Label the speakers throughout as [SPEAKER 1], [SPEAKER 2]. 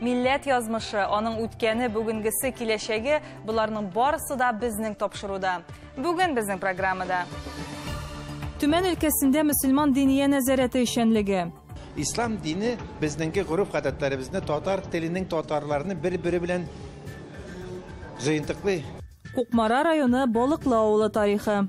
[SPEAKER 1] Милләт язмышы, аның үткәне, бүгенгесе, киләчәге, боларның барысы да безнең тапшыруда. Бүген безнең программада. Төмән өлкәсендә мөселман диния нәзарәте эшчәнлеге. Ислам дине
[SPEAKER 2] безнеңге гореф-гадәтләребезне, татар теленең татарларны бер-бере белән җыентыклый. Кукмара районы
[SPEAKER 1] Балыклы авылы тарихы.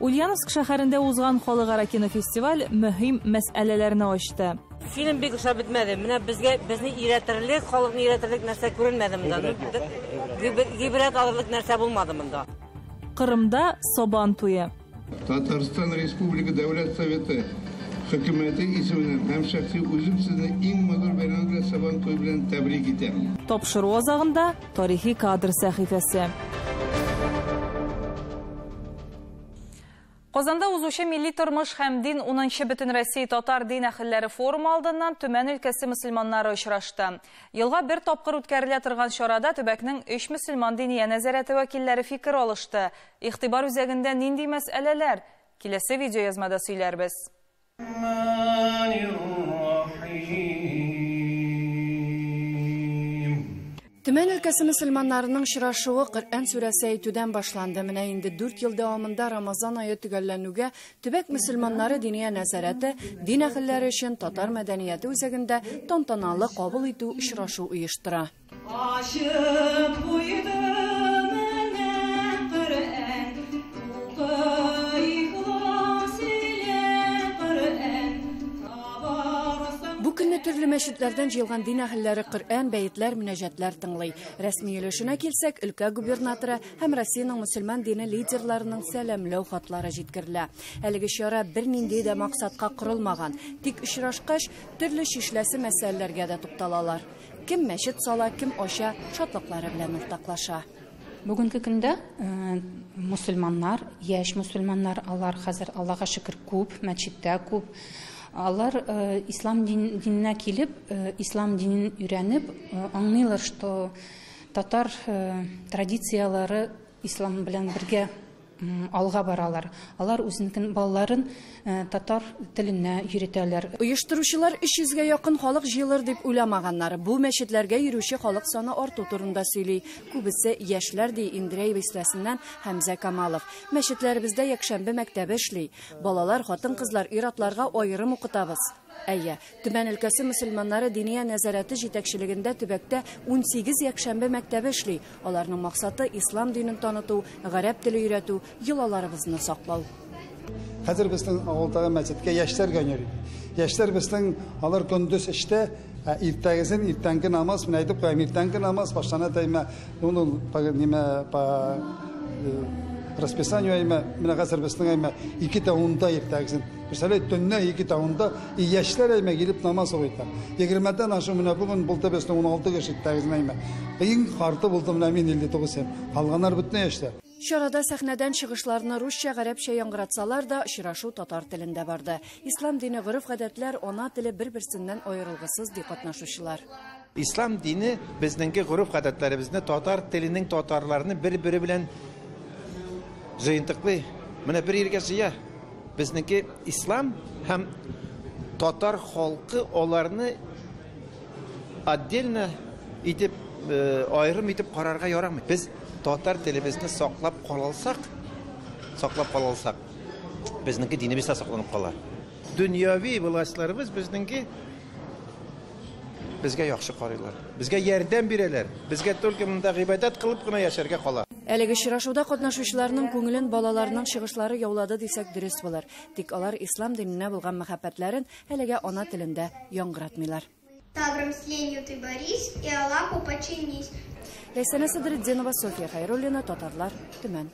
[SPEAKER 3] Ульяновск
[SPEAKER 1] шәһәрендә узган халыкара кинофестиваль мөһим мәсьәләләрне ачты. Фильм бик ошап
[SPEAKER 4] бетмәде. Менә безгә безне өйрәтерлек, халыкны өйрәтерлек нәрсә күренмәде монда. Гибрәт алырлык нәрсә булмады монда. Кырымда
[SPEAKER 1] Сабан туе. Татарстан
[SPEAKER 5] Республика Дәүләт Советы Хөкүмәте исеменнән һәм шәхси үзем сезне иң матур бәйрәмебез белән Сабан туе белән тәбрик итәм. Тапшыру азагында.
[SPEAKER 1] Тарихи кадр сәхифәсе. Казанда узучы милли тормыш һәм дин 10-нчы Бөтенроссия татар дин әхелләре форумы алдыннан Төмән өлкәсе мөселманнары очрашты. Елга бер тапкыр үткәрелә торган чарада төбәкнең өч мөселман диния нәзарәте вәкилләре фикер алышты. Игътибар үзәгендә нинди мәсьәләләр? Киләсе видеоязмада сөйләрбез.
[SPEAKER 6] Төмән өлкәсе мөселманнарының очрашуы Коръән сүрәсе әйтүдән башланды. Менә инде дүрт ел дәвамында Рамазан ае төгәлләнүгә, төбәк мөселманнары диния нәзарәте, дин әһелләре өчен татар мәдәнияте үзәгендә тантаналы кабул итү очрашу оештыра. төрле мәчетләрдән җыелган дин әһелләре Коръән, бәетләр, мөнәҗәтләр тыңлый. Рәсми өлешенә килсәк, өлкә губернаторы һәм Россиянең мөселман дине лидерларының сәламләү хатлары җиткерелә. Әлеге чара бернинди дә максатка корылмаган, тик очрашкач, төрле чишләсе мәсьәләләргә дә тукталалар. Кем мәчет сала, кем ача, шатлыклары белән уртаклаша. Бүгенге көндә
[SPEAKER 7] э, мусульманнар, яшь мусульманнар, алар хәзер Аллага шөкер күп, мәчеттә күп. Алар э, ислам диненә килеп, э, ислам динен өйрәнеп, аңлыйлар, что татар традицияләре ислам белән бергә алга баралар. Алар үзенекен балаларын татар теленә йөретәләр. Оештыручылар 300 гә якын халык җыелыр дип уйламаганнар. Бу мәчетләргә йөрүче халык саны арту турында сөйли. Күбесе, яшьләр, ди Индрей Бистәсеннән Хәмзә Камалов. Мәчетләребездә якшәмбе мәктәбе эшли. Балалар, хатын-кызлар, ир-атларга аерым укытабыз. Әйе, Төмән өлкәсе мөселманнары диния нәзарәте җитәкчелегендә төбәктә 18 якшәмбе мәктәбе эшли. Аларның максаты, ислам динен таныту, гарәп теле өйрәтү, йолаларыбызны саклау. Хәзер
[SPEAKER 8] безнең авылдагы мәчеткә яшьләр генә йөри. Яшьләр безнең, алар көндез эштә, ә иртәгесен иртәнге намаз, мин әйтеп куям, иртәнге намаз башлана дәймә, ул ул по нимә, по э, расписанию әймә, менә хәзер безнең әймә, ике дә унда иртәгесен. Представляете, төннә ике тавында и яшьләр әймә килеп намаз укыта. Егермедән ашу менә бүген булды безне 16 кеше тәгезен әймә. Иң карты булды менә мин 59 һәм калганнар бөтен яшьләр. Чарада сәхнәдән
[SPEAKER 6] чыгышларны русча, гарәпчә яңгыратсалар да, очрашу татар телендә барды. Ислам дине, гореф-гадәтләр, ана теле бер-берсеннән аерылгысыз, ди катнашучылар. Ислам дине
[SPEAKER 2] безнеңге гореф-гадәтләребезне, татар теленең татарларны бер-бере белән җыентыклый. Менә бер иргә җыя. Безнеңке ислам һәм татар халкы аларны отдельно итеп э, аерым итеп карарга ярамый. Без татар телебезне саклап калалсак, саклап калалсак, безнеңке динебез дә сакланып кала. Дөньяви властьларыбыз безнеңки безгә яхшы карыйлар. Безгә ярдәм бирәләр. Безгә только монда гыйбадәт кылып кына яшәргә кала. Әлеге очрашуда
[SPEAKER 6] катнашучыларның күңелен балаларның чыгышлары яулады дисәк дөрес булыр. Тик алар ислам диненә булган мәхәббәтләрен әлегә ана телендә яңгыратмыйлар. Тавром с
[SPEAKER 9] ленью ты борись и Аллаху подчинись. Ләйсәнә
[SPEAKER 6] Садретдинова, София Хәйруллина, Татарлар, Төмән.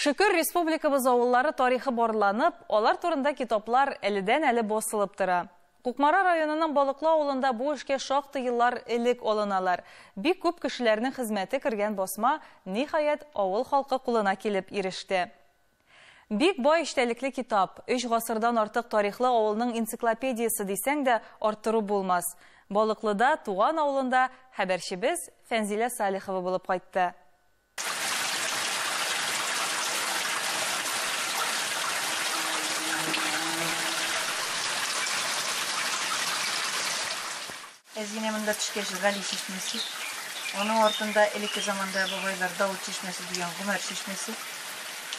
[SPEAKER 6] Шөкер,
[SPEAKER 1] республикабыз авыллары тарихы барланып, алар турында китаплар әледән-әле басылып тора. Кукмара районының Балыклы авылында бу эшкә шактый еллар элек алыналар. Бик күп кешеләрнең хезмәте кергән басма, ниһаять, авыл халкы кулына килеп иреште. Бик бай эчтәлекле китап, өч гасырдан артык тарихлы авылның энциклопедиясе дисәң дә, арттыру булмас. Балыклыда, туган авылында хәбәрчебез Фәнзилә Салихова булып кайтты.
[SPEAKER 10] Әзинә монда төшкәч Гали чишмәсе. Аның артында элекке заманда бабайлар Давыт чишмәсе дигән Гомәр чишмәсе.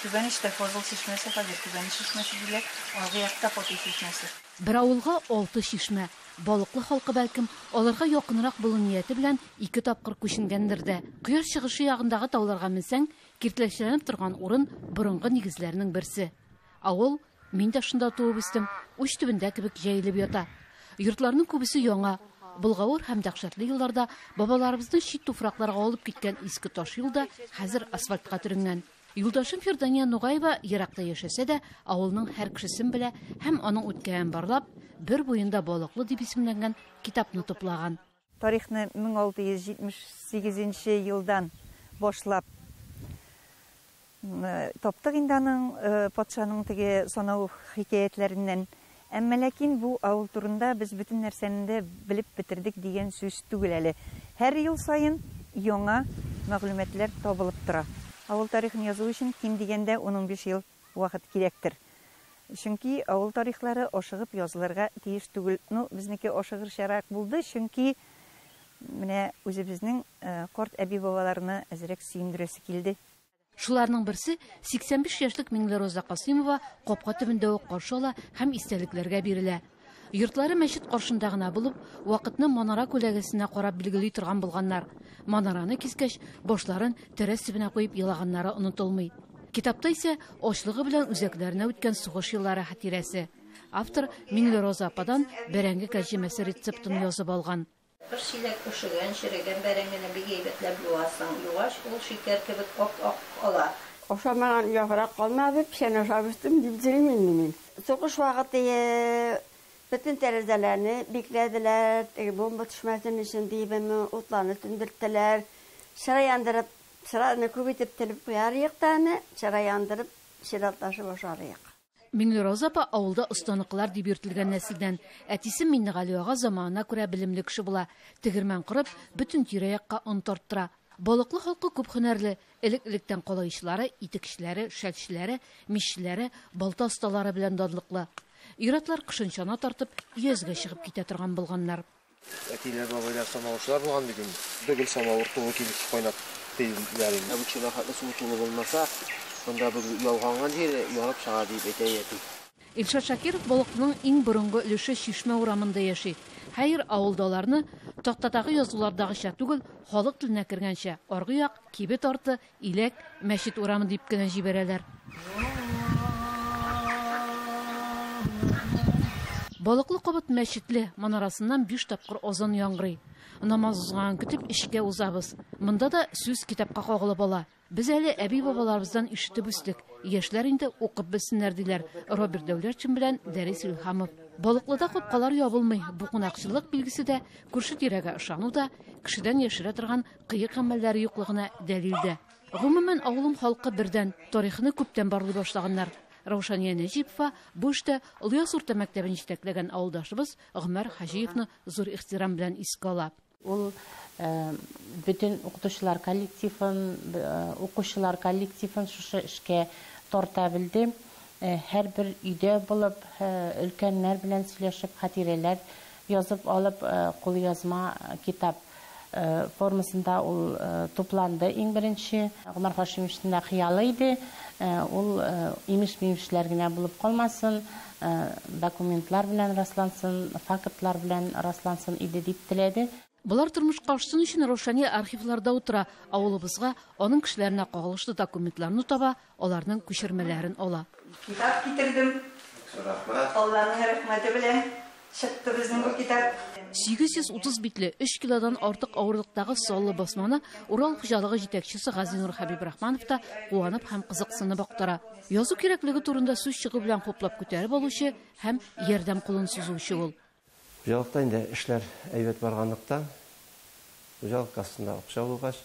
[SPEAKER 10] Түбәнештә Фазыл чишмәсе, хәзер Түбәнеш чишмәсе диләр. Алгы якта Фатих чишмәсе. Бер авылга
[SPEAKER 6] алты чишмә. Балыклы халкы, бәлкем, аларга якынрак булу нияте белән ике тапкыр күченгәндер дә. Кояш чыгышы ягындагы тауларга менсәң, киртләчләнеп торган урын борынгы нигезләрнең берсе. Авыл, мин дә шунда туып үстем, уч төбендә кебек җәелеп ята. Йортларның күбесе яңа. Болгавыр һәм дәһшәтле елларда бабаларыбызны чит туфракларга алып киткән иске таш юл да хәзер асфальтка төренгән. Юлдашым Фирдания Нугаева еракта яшәсә дә, авылның һәр кешесен белә һәм аның үткәен барлап, Бер буенда балыклы дип исемләнгән китапны туплаган. Тарихны
[SPEAKER 10] 1678 нче елдан башлап таптык инде аның, патшаның теге санау хикәятләреннән. Әмма ләкин бу авыл турында без бөтен нәрсәне дә белеп бетердек дигән сүз түгел әле. Һәр ел саен яңа мәгълүматлар табылып тора. Авыл тарихын язу өчен ким дигәндә ун-унбиш ел вакыт кирәктер. Чөнки авыл тарихлары ашыгып язылырга тиеш түгел. Ну, безнеке ашыгырчарак булды, чөнки менә үзебезнең карт әби-бабаларны әзрәк сөендерәсе килде. Шуларның
[SPEAKER 6] берсе 85 яшьлек Миңлероза Касыймова капка төбендә үк каршы ала һәм истәлекләргә бирелә. Йортлары мәчет каршында гына булып, вакытны манара күләгәсенә карап билгели торган булганнар. Манараны кискәч, башларын тәрәз төбенә куеп елаганнары онытылмый. Китапта исә ачлыгы белән үзәкләренә үткән сугыш еллары хатирәсе. Автор Миңлероза ападан бәрәңге кәрҗемәсе рецептын язып алган.
[SPEAKER 11] Бер чиләк пешегән, черегән бәрәңгене бик әйбәтләп юасың. Югач, ул шикәр
[SPEAKER 12] кебек ап-ак кала. Ашамаган яграк калмады, печән ашап үстем, дип җырлый инде мин. Сугыш вакыты бөтен тәрәзәләрне бикләделәр, теге бомба төшмәсен өчен диебме, утларны сүндерттеләр. Чыра яндырып, чыраны күп итеп телеп куяр идек тә аны, чыра яндырып, чиратлашып ашар идек. Миңлероза апа
[SPEAKER 6] авылда останыкылар дип йөртелгән нәселдән. Әтисе Миннегали ага заманына күрә белемле кеше була. Тегермән корып, бөтен тирә-якка он тарттыра. Балыклы халкы күп һөнәрле. Элек-электән калаечылары, итекчеләре, шәлчеләре, миччеләре, балта осталары белән данлыклы. Ир-атлар кышын чана тартып, өязгә чыгып китә торган булганнар. Әтиләр,
[SPEAKER 13] бабайлар самавырчылар булган бит инде. Бөгел самавыр тулы килеш кайнап тиелгән инде. Бу чирахатлы суы тулы булмаса, монда бөгел ялганган җире ярып чыга, дип әйтә әти. Илшат Шакиров
[SPEAKER 6] Болыкның иң борынгы өлеше Чишмә урамында яши. Хәер, авылда аларны, тактадагы язулардагыча түгел, халык теленә кергәнчә, аргы як, кибет арты, Иләк, мәчет урамы дип кенә җибәрәләр. Балыклы кабат мәчетле, манарасыннан биш тапкыр азан яңгырый. Намаз узганын көтеп, эчкә узабыз. Монда да сүз китапка кагылып ала. Без әле әби-бабаларыбыздан ишетеп үстек, яшьләр инде укып белсеннәр, диләр Роберт Дәүләтшин белән Дәрис Илһамов. Балыклыда капкалар ябылмый, бу кунакчыллык билгесе дә, күрше-тирәгә ышану да, кешедән яшерә торган Кыек гамәлләре юклыгына дәлил дә. Гомумән, авылым халкы бердән, тарихны күптән барлый башлаганнар. Раушания Нәҗипова бу эштә Олыяз урта мәктәбен җитәкләгән авылдашыбыз Гомәр Хаҗиевны зур ихтирам белән искә ала. Ул
[SPEAKER 14] бөтен укытучылар коллективын, укучылар коллективын шушы эшкә тарта белде. Һәрбер өйдә булып, өлкәннәр белән сөйләшеп, хатирәләр Язып алып, кулъязма китап формасында ул тупланды иң беренче. Гомәр Хашимовичның да хыялы иде, ул имеш-мимешләр генә булып калмасын, документлар белән раслансын, фактлар белән раслансын иде дип теләде. Болар тормышка
[SPEAKER 6] ашсын өчен Раушания архивларда утыра, авылыбызга, аның кешеләренә кагылышлы документларны таба, аларның күчермәләрен ала. Китап китердем.
[SPEAKER 10] Рәхмәт. Алланың рәхмәте белән чыкты безнең бу китап. 830
[SPEAKER 6] битле, 3 килодан артык авырлыктагы саллы басманы Урал хуҗалыгы җитәкчесе Газинур Хәбибрахманов та куанып һәм кызыксынып актара. Язу кирәклеге турында сүз чыгу белән хуплап күтәреп алучы һәм ярдәм кулын сузучы ул. Хуҗалыкта инде
[SPEAKER 13] эшләр әйбәт барганлыктан, хуҗалык кассасында акча булгач,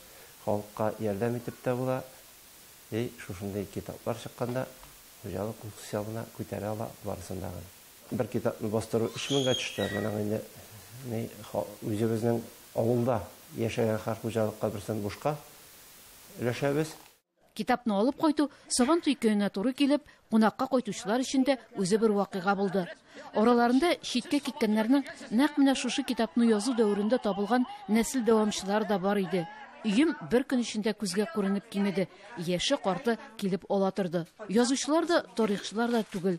[SPEAKER 13] халыкка ярдәм итеп тә була. И, шушындый китаплар чыкканда, хуҗалык үз хисабына күтәрә ала барысын да гына. Бер китапны бастыру өч меңгә төште, моның инде ни, үзебезнең авылда яшәгән һәр хуҗалыкка берсен бушка өләшәбез. Китапны
[SPEAKER 6] алып кайту Сабантуй көненә туры килеп, кунакка кайтучылар өчен дә үзе бер вакыйга булды. Араларында читкә киткәннәрнең нәкъ менә шушы китапны язу дәверендә табылган нәсел дәвамчылары да бар иде. Өем бер көн эчендә күзгә күренеп кимеде, яше-карты килеп ала торды. Язучылар да, тарихчылар да түгел.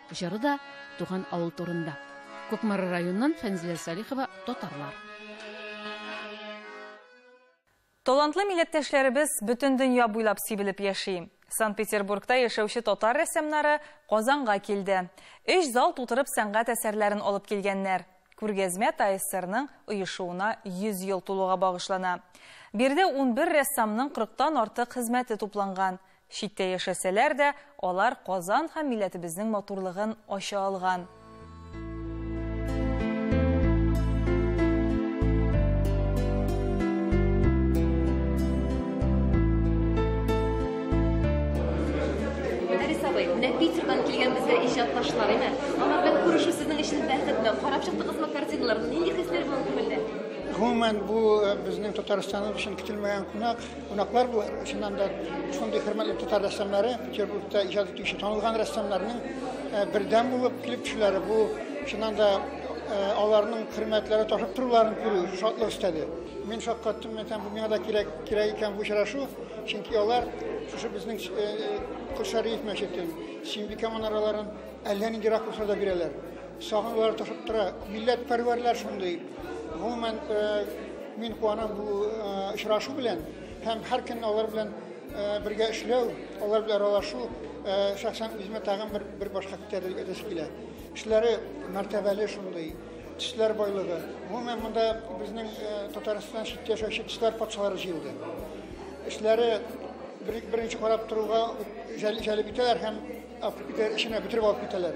[SPEAKER 6] Җыры да туган авыл турында. Кукмара районыннан Фәнзилә Салихова, Татарлар.
[SPEAKER 1] Талантлы милләттәшләребез бөтен дөнья буйлап сибелеп яши. Санкт-Петербургта яшәүче татар рәссамнары Казанга килде. Өч зал тутырып сәнгать әсәрләрен алып килгәннәр. Күргәзмә ТАССРның оешуына 100 ел тулуга багышлана. Биредә унбер рәссамның кырыктан артык хезмәте тупланган. Читтә яшәсәләр дә, алар Казан һәм милләтебезнең матурлыгын ача алган.
[SPEAKER 15] Гомумән, бу
[SPEAKER 16] безнең Татарстаныбыз өчен көтелмәгән кунак. Кунаклар бу чыннан да шундый хөрмәтле татар рәссамнары, Петербургта иҗат итүче танылган рәссамнарның э, бердәм булып килеп төшүләре бу чыннан да э, аларның хөрмәтләре ташып торуларын күрү шатлык өстәде. Мин шаккаттым, мен бу миңа да кирәк, кирәк икән бу очрашу, чөнки алар шушы безнең Кошариев э, мәчетен, Симбикә манараларын әллә нинди ракурсларда бирәләр. Сагынулар ташып тора. Милләт пәрвәрләр шундый. Гомумән, э, мин куанам бу э, очрашу белән һәм һәр көнне алар белән э, бергә эшләү, алар белән аралашу шәхсән үземә тагын бер бер башка күтәрелеп әйтәсе килә. Эшләре мәртәбәле шундый, төсләр байлыгы. Гомумән монда безнең Татарстан читтә яшәүче төсләр патшалары җыелды. Эшләре беренче карап торуга җәлеп итәләр һәм эченә бөтереп алып китәләр.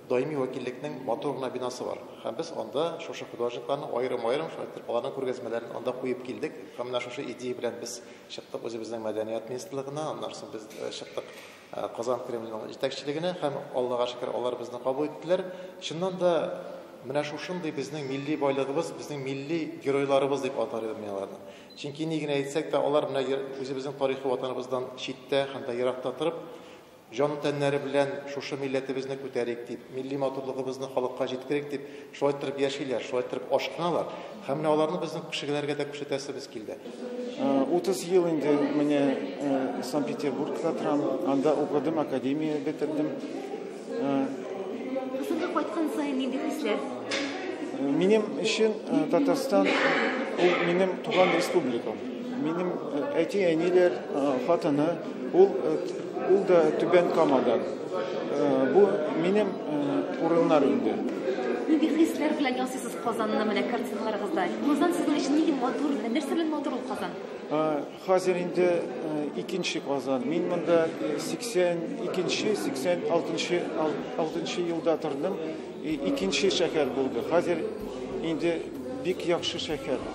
[SPEAKER 2] Даими вәкиллекнең матур гына бинасы бар. Һәм без анда шушы художникларның аерым-аерым шулай итеп аларның күргәзмәләрен анда куеп килдек. Һәм менә шушы идея белән без чыктык үзебезнең мәдәният министрлыгына, аннан соң без э, чыктык э, Казан Кремленең җитәкчелегенә һәм Аллага шөкер алар безне кабул иттеләр. Чыннан да менә шушындый безнең милли байлыгыбыз, безнең милли геройларыбыз дип атар идем мин аларны. Чөнки ни генә әйтсәк тә, алар менә үзебезнең тарихи ватаныбыздан читтә һәм дә еракта торып, Җан-тәннәре белән шушы милләтебезне күтәрик дип, милли матурлыгыбызны халыкка җиткерик дип, шулай торып яшиләр, шулай торып ашкыналар. Һәм менә аларны безнең кешегеләргә дә күрсәтәсебез килде. Утыз
[SPEAKER 17] ел инде менә Санкт-Петербургта торам, анда укыдым, академия бетердем.
[SPEAKER 15] Казанга кайткан саен нинди хисләр?
[SPEAKER 17] Минем өчен Татарстан ул минем туган республикам. Минем әти-әниләр, хатыны, ул Ул да Түбән Камадан. Э, бу минем э, урыннар инде. Нинди хисләр
[SPEAKER 15] белән ясыйсыз Казанны менә картиналарыгызда? Казан сезнең өчен нинди матур, нәрсә белән матур ул Казан? Э, хәзер
[SPEAKER 17] инде икенче Казан. Мин монда 82-нче, 86-нчы 6-нчы елда тордым. Икенче шәһәр булды. Хәзер инде бик яхшы шәһәр.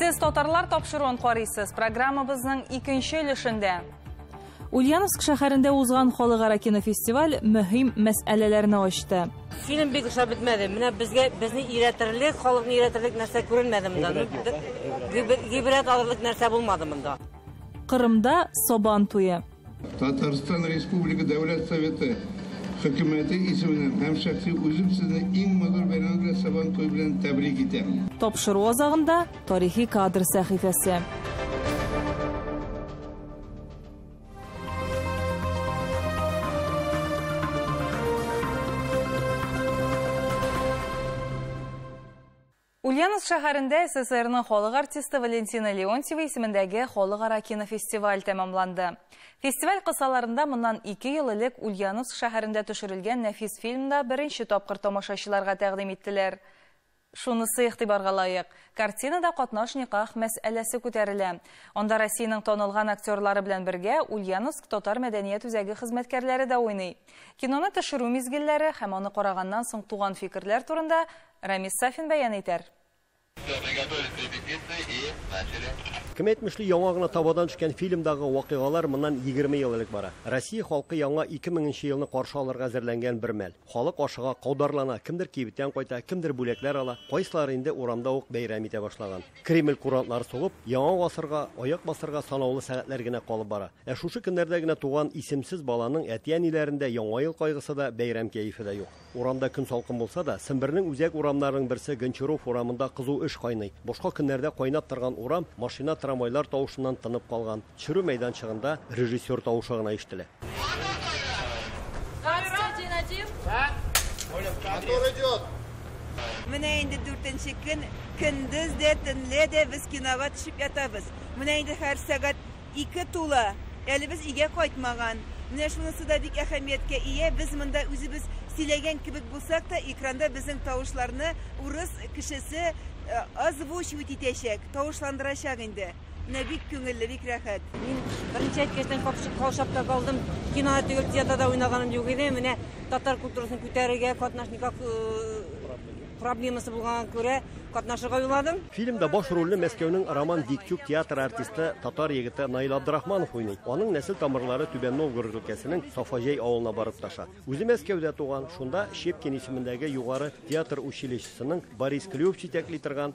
[SPEAKER 1] Сез татарлар тапшыруын карыйсыз. Программабызның икенче өлешендә Ульяновск шәһәрендә узган халыкара кинофестиваль мөһим мәсьәләләрне ачты. Фильм бик ошап
[SPEAKER 4] бетмәде. Менә безгә безне иретерлек, халыкны иретерлек нәрсә күренмәде монда. Гибрәт алырлык нәрсә булмады монда. Кырымда
[SPEAKER 1] Сабан туе. Татарстан
[SPEAKER 5] Республика Дәүләт Советы хөкүмәте исеменнән һәм шәхси үзем сезне иң матур бәйрәмегез белән Сабан туе белән тәбрик итәм. Тапшыру азагында
[SPEAKER 1] тарихи кадр сәхифәсе. Ульяновск шәһәрендә СССРның халык артисты Валентина Леонтьева исемендәге халыкара кинофестиваль тәмамланды. Фестиваль кысаларында моннан ике ел элек Ульяновск шәһәрендә төшерелгән нәфис фильмны беренче тапкыр тамашачыларга тәкъдим иттеләр. Шунысы игътибарга лаек, картинада катнаш-никах мәсьәләсе күтәрелә. Анда Россиянең танылган актерлары белән бергә Ульяновск татар мәдәният үзәге хезмәткәрләре дә уйный. Киноны төшерү мизгелләре һәм аны караганнан соң туган фикерләр турында Рамис Сафин бәян итәр. Все, мы готовить репетиции
[SPEAKER 18] и начали. Кем әйтмешли, яңа гына табадан төшкән фильмдагы вакыйгалар моннан егерме ел элек бара. Россия халкы яңа ике меңенче елны каршы алырга әзерләнгән бер мәл. Халык ашыга, каударлана, кемдер кибеттән кайта, кемдер бүләкләр ала, кайсылары инде урамда ук бәйрәм итә башлаган. Кремль курантлары сугып, яңа гасырга аяк басарга санаулы сәгатьләр генә калып бара. Ә шушы көннәрдә генә туган исемсез баланың әти-әниләрендә яңа ел кайгысы да, бәйрәм кәефе дә юк. Урамда көн салкын булса да, Сембернең үзәк урамнарының берсе Гончаров урамында кызу эш кайный. Башка көннәрдә кайнап торган урам машина-трамвайлар тавышыннан тынып калган. Төшерү мәйданчыгында режиссер тавышы гына ишетелә.
[SPEAKER 19] Менә инде дүртенче көн, көндез дә, төнлә дә без кинога төшеп ятабыз. Менә инде һәр сәгать Ике тула, әле без өйгә кайтмаган. Менә шунысы да бик әһәмияткә ия, без монда үзебез сөйләгән кебек булсак та, экранда безнең тавышларны урыс кешесе озвучивать итәчәк, тавышландырачак инде. Менә бик күңелле, бик рәхәт. Мин беренче
[SPEAKER 4] әйткәчтән капшып, каушап та калдым. Кинода түгел, театрда уйнаганым юк иде. Менә татар культурасын күтәрергә катнашникак Проблемасы булганга күрә катнашырга уйладым. Фильмда баш рольне
[SPEAKER 18] Мәскәүнең Роман Дикчук театры артисты, татар егете Наил Абдрахманов уйный. Аның нәсел тамырлары Түбән Новгород өлкәсенең Сафаҗәй авылына барып таша. Үзе Мәскәүдә туган, шунда Щепкин исемендәге югары театр училищесының Борис Клюев җитәкли торган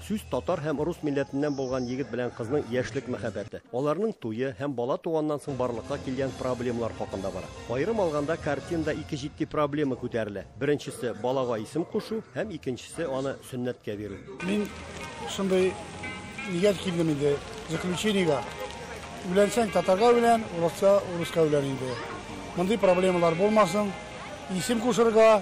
[SPEAKER 18] Сүз татар һәм рус милләтеннән булган егет белән кызның яшьлек мәхәббәте, аларның туе һәм бала туганнан соң барлыкка килгән проблемалар хакында бара. Аерым алганда, картинада ике җитди проблема күтәрелә. Беренчесе, балага исем кушу һәм икенчесе, аны сөннәткә бирү. Мин
[SPEAKER 20] шундый нигә килдем инде, заключениегә. Өйләнсәң татарга өйлән, урысча, урыска өйлән инде. Мондый проблемалар булмасын. Исем кушырга.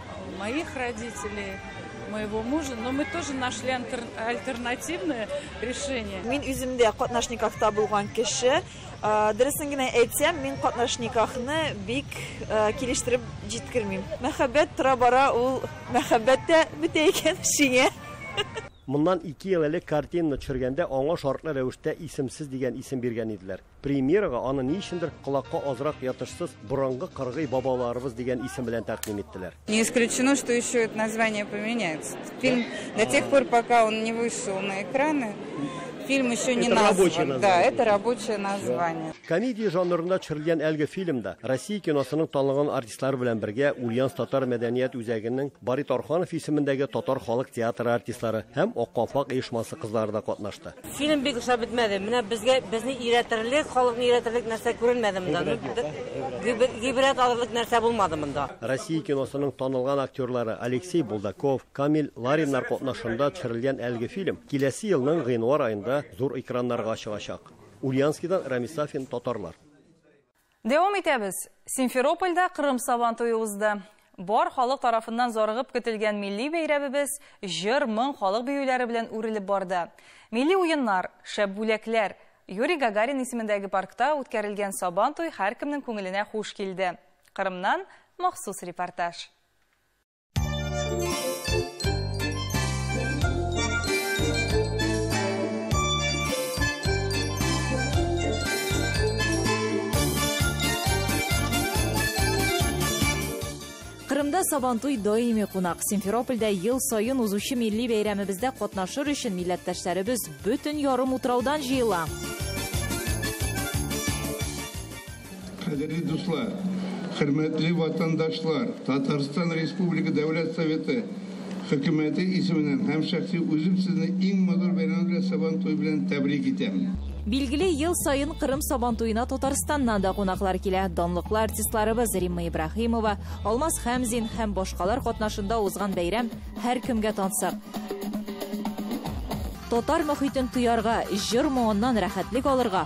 [SPEAKER 7] Моих родителей, моего мужа, но мы тоже нашли альтернативное решение. Мин үзем дә
[SPEAKER 21] катнаш никахта булган кеше. Э, дөресен генә әйтсәм, мин катнаш никахны бик э, килештереп җиткермим. Мәхәббәт тора бара ул мәхәббәт тә бетә икән шиңә. Моннан
[SPEAKER 18] ике ел элек картина төшергәндә аңа шартлы рәвештә исемсез дигән исем биргән иделәр. Премьерага аны ни өчендер колакка азрак ятышсыз Борынгы кыргый бабаларыбыз дигән исем белән тәкъдим иттеләр. Не исключено, что
[SPEAKER 8] еще это название поменяется. Фильм до тех пор, пока он не вышел на экраны, фильм еще не назван. Да, это рабочее название. Комедия жанрында
[SPEAKER 18] төшерелгән әлеге фильмда Россия киносының танылган артистлары белән бергә Ульяновск татар мәдәният үзәгенең Барит Орханов исемендәге татар халык театры артистлары һәм Ак калфак оешмасы кызлары да катнашты. Фильм бик ошап
[SPEAKER 4] бетмәде. Менә безгә безне өйрәтерлек, халыкны өйрәтерлек нәрсә күренмәде монда. Гыйбрәт алырлык нәрсә булмады монда. Россия киносының
[SPEAKER 18] танылган актерлары Алексей Булдаков, Камил Лариннар катнашында төшерелгән әлеге фильм киләсе елның гыйнвар аенда зур экраннарга чыгачак. Ульянскидан Рәмис Сафин, Татарлар. Дәвам
[SPEAKER 1] итәбез. Симферопольдә Кырым Сабан туе узды. Бар халык тарафыннан зарыгып көтелгән милли бәйрәмебез җыр, моң, халык биюләре белән үрелеп барды. Милли уеннар, шәп бүләкләр. Юрий Гагарин исемендәге паркта үткәрелгән Сабан туй һәркемнең күңеленә хуш килде. Кырымнан махсус репортаж.
[SPEAKER 9] Кырымда Сабантуй даими кунак. Симферопольдә ел саен узучы милли бәйрәмебездә катнашыр өчен милләттәшләребез бөтен ярым утраудан җыела.
[SPEAKER 5] Кадерле дуслар, хөрмәтле ватандашлар, Татарстан Республика Дәүләт Советы Хөкүмәте исеменнән һәм шәхси үзем сезне иң матур бәйрәмебез белән Сабантуй белән тәбрик итәм. Билгеле, ел
[SPEAKER 9] саен Кырым Сабантуена Татарстаннан да кунаклар килә. Данлыклы артистларыбыз Римма Ибраһимова, Алмаз Хәмзин һәм башкалар катнашында узган бәйрәм һәркемгә тансык. Татар мохитен тоярга, җыр моңыннан рәхәтлек алырга,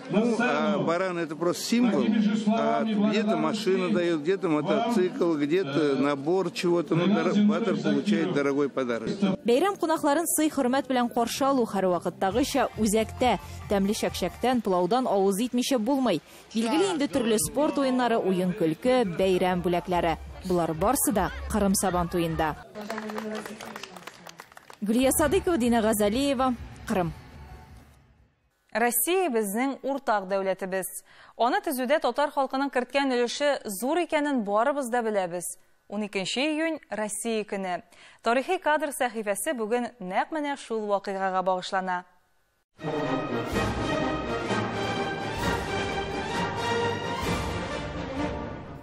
[SPEAKER 5] Ну, а баран это просто символ. А где-то машина дает, где-то мотоцикл, где-то набор чего-то. Ну, батер получает дорогой подарок. Бәйрәм кунакларын
[SPEAKER 9] сый хөрмәт белән каршы алу һәрвакыттагыча үзәктә. Тәмле чәкчәктән, плаудан авыз итмичә булмый. Билгеле инде төрле спорт уеннары, уен көлке, бәйрәм бүләкләре. Булар барсы да Кырым Сабан туенда. Гүлия Садыкова, Дина Газалиева, Кырым. Россия
[SPEAKER 1] безнең уртак дәүләтебез. Аны төзүдә татар халкының керткән өлеше зур икәнен барыбыз да беләбез. Уникенче июнь, Россия көне. Тарихи кадр сәхифәсе бүген нәкъ менә шул вакыйгага багышлана.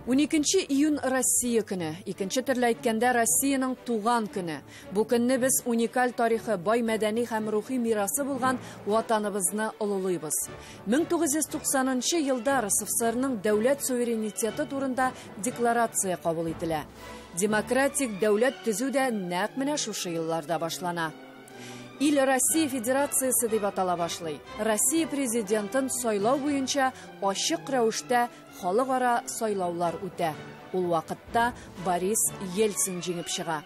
[SPEAKER 6] Уникенче июнь, Россия көне. Икенче төрле әйткәндә, Россиянең туган көне. Бу көнне без уникаль тарихы, бай мәдәни һәм рухи мирасы булган Ватаныбызны олылыйбыз. 1990 нчы елда РСФСРның дәүләт суверенитеты турында Декларация кабул ителә. Демократик дәүләт төзү дә нәкъ менә шушы елларда башлана. Ил Россия Федерациясе дип атала башлый. Россия президентын сайлау буенча ачык рәвештә халыкара сайлаулар үтә. Ул вакытта Борис Ельцин җиңеп чыга.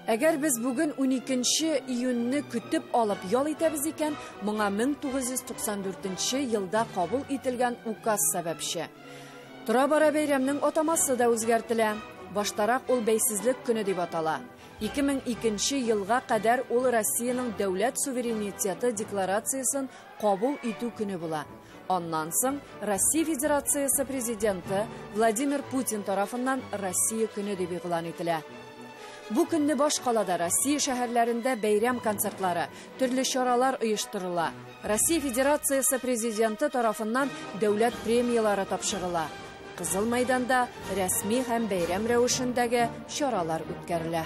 [SPEAKER 6] Әгәр без бүген уникенче июньне көтеп алып ял итәбез икән, моңа 1994 елда кабул ителгән указ сәбәпче. Тора-бара бәйрәмнең атамасы да үзгәртелә. Баштарак ул бәйсезлек көне дип атала. 2002 елга кадәр ул Россиянең дәүләт суверенитеты декларациясен кабул итү көне була. Аннан соң Россия Федерациясе президенты Владимир Путин тарафыннан Россия көне дип игълан ителә. Бу көнне башкалада Россия шәһәрләрендә бәйрәм концертлары, төрле чаралар оештырыла. Россия Федерациясе президенты тарафыннан дәүләт премияләре тапшырыла. Кызыл мәйданда рәсми һәм бәйрәм рәвешендәге чаралар үткәрелә.